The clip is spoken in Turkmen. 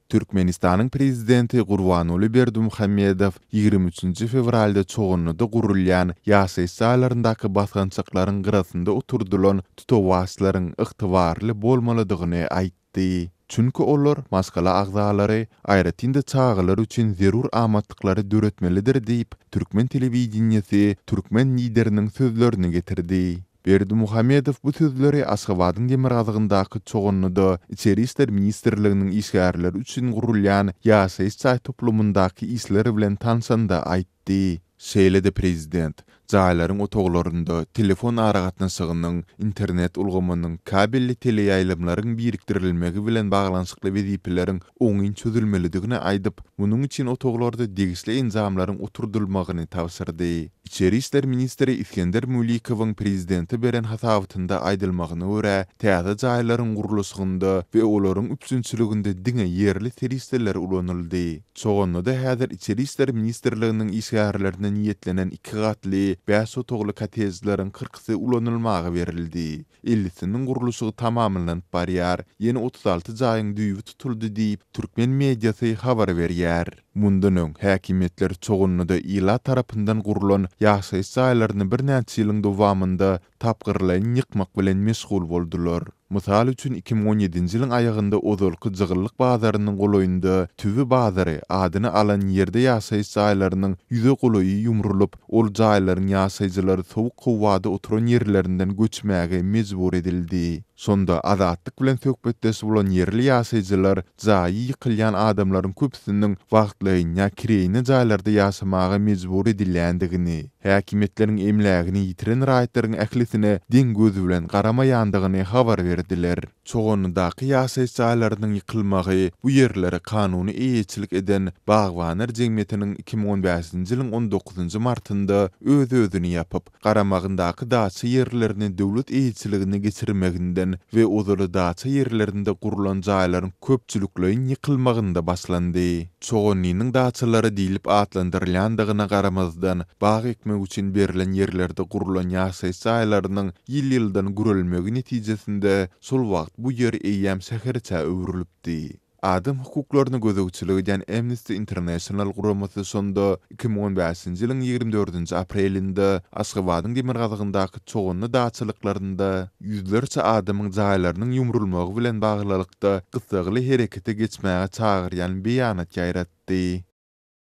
Türkmenistanyň Prezidenti Gurbanguly Berdimuhamedow ýigrimi üçünji fewralda Çoganlyda gurulýan ýaşaýyş jaýlaryndaky basgançaklaryň gyrasynda oturdylan tutawaçlaryň ygtybarly bolmalydygyny aýtdy. Çünki olar maşgala agzalary, aýratyn-da çagalar üçin zerur amatlyklary döretmelidir diýip, türkmen telewideniýesi türkmen Lideriniň sözlerini getirdi. Berdimuhamedow bu sözleri Aşgabadyň demirgazygyndaky Çoganlyda Içeri işler ministrliginiň işgärleri üçin gurulýan ýaşaýyş jaý toplumyndaky işler bilen tanşanda aýtdy. Şeýle-de prezident, jaýlaryň otaglarynda telefon aragatnaşygynyň, internet ulgamynyň, kabelli teleýaýlymlaryň birikdirilmegi bilen baglanyşykly wezipeleriň oňyn çözülmelidigini aýdyp, munuň üçin otaglarda degişli enjamlaryň oturdylmagyny tabşyrdy. Içeri işler ministri Isgender Mulikowyň prezidente beren hasabatynda aýdylmagyna görä, täze jaýlaryň gurluşygynda we olaryň üpjünçiliginde diňe ýerli serişdeler ulanyldy. Çogannada häzir Içeri işler ministrliginiň işgärlerine niýetlenen iki gatly, bäş otagly kottejleriň kyrkysy ulanylmaga berildi. Ellisiniň gurluşygy tamamlanyp barýar, ýene otuz alty jaýyň düýbi tutuldy diýip, türkmen mediasy habar berýär. Mundan öň, häkimiýetler Çoganlyda ilat tarapyndan gurlan ýaşaýyş jaýlaryny birnäçe ýylyň dowamynda tapgyrlaýyn ýykmak bilen meşgul boldular. Mysal üçin, iki müň on ýedinji ýylyň aýagynda ozalky Jygyllyk bazarynyň golaýynda Tüwi bazary adyny alan ýerde ýaşaýyş jaýlarynyň ýüze golaýy ýumrulyp, ol jaýlaryň ýaşaýjylary sowuk howada oturan ýerlerinden göçmäge mejbur edildi. Şonda Azatlyk bilen söhbetdeş bolan ýerli ýaşaýjylar jaýy ýykylýan adamlaryň köpüsiniň wagtlaýyn ýa kireýine jaýlarda ýaşamaga mejbur edilýändigini, häkimiýetleriň emlägini ýitiren raýatlaryň ählisine deň göz bilen garamaýandygyny habar berdiler. Çoganydaky ýaşaýyş jaýlarynyň ýykylmagy bu ýerlere kanuny eýeçilik eden Bagbanlar jemgyýetiniň iki müň on bäşinji ýylyň on dokuzynjy martynda öz-özüni ýapyp, garamagyndaky daça ýerlerini döwlet eýeçiligine geçirmeginden we ozaly daça ýerlerinde gurlan jaýlaryň köpçülikleýin ýykylmagynda başlandy. Çoganlynyň daçalary diýlip atlandyrylýandygyna garamazdan, bag ekmek üçin berlen ýerlerde gurlan ýaşaýyş jaýlarynyň ýyl-ýyldan gürelmegi netijesinde şol wagt bu ýer eýýäm şäherçä öwrülipdi. Adam hukuklaryna gözegçilik edýän Amnesty International guramasy şonda iki müň on bäşinji ýylyň ýigrimi dördünji aprelinde Aşgabadyň demirgazygyndaky çoganly daçalyklarynda ýüzlerçe adamyň jaýlarynyň ýumrulmagy bilen baglylykda gyssagly herekete geçmäge çagyrýan beýanat ýaýratdy.